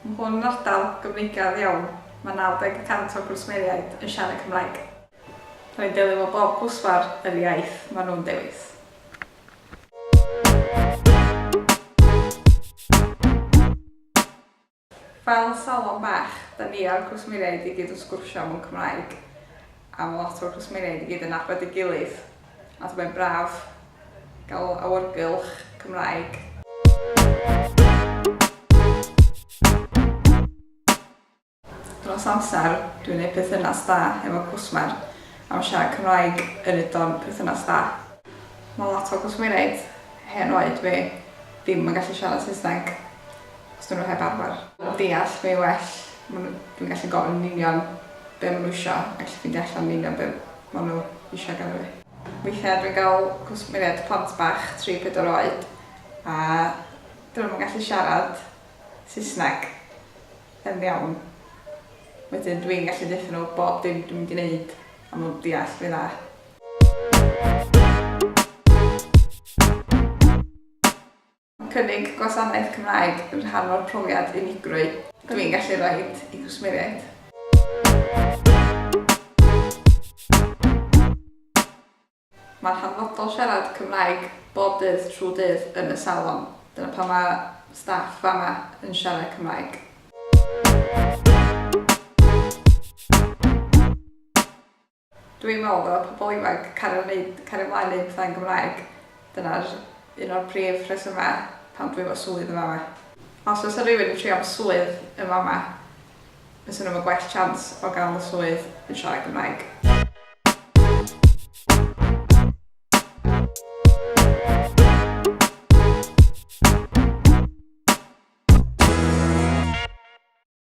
Mae hwn yn ardal gyfnigedd iawn, mae 90 y cant o'r gwsmeriaid yn siarad Cymraeg. Rwy'n delio efo bob cwsmer yr iaith maen nhw'n dewis. Fel salon bach, da ni a'r cwsmeriaid i gyd yn sgwrsio mewn Cymraeg. am lot o'r cwsmeriaid i gyd yn nabod ei gilydd a mae'n braf gael awyrgylch Cymraeg. Dros amser, dwi'n gwneud perthynas da efo cwsmer a mae siarad Cymraeg yn wneud o'n perthynas da. Mae lot o gwsmeriaid hen oed fi ddim yn gallu siarad Saesneg. Os dyn nhw heb arfer. Deall fi well, maen nhw... dwi'n gallu gofyn yn union be maen nhw isio a gallu ffeindio allan yn union be maen nhw isio ganddo fi. Weithiau dwi'n cael cwsmeriaid plant bach, tri, pedwar oed, a dyn nhw'm yn gallu siarad Saesneg yn iawn. Wedyn dwi'n gallu deutha nhw bob dim dwi'n mynd i wneud a maen nhw'n deall fi'n dda. Cynnig gwasanaeth Cymraeg yn rhan o'r profiad unigrwy dw i'n gallu rhoi i gwsmeriaid. Mae'n hanfodol siarad Cymraeg bob dydd trwy dydd yn y salon, dyna pam mae staff fama yn siarad Cymraeg. Dw i'n meddwl ddyla pobl ifanc cario wneud, cario mlaen wneud pethau yn Gymraeg. Dyna'r un o'r prif rhesymau pam dw i efo swydd yn fama. Os fysa rhywun yn trio am swydd yn fama, fysa nhw efo gwell chance o gael y swydd yn siarad Cymraeg.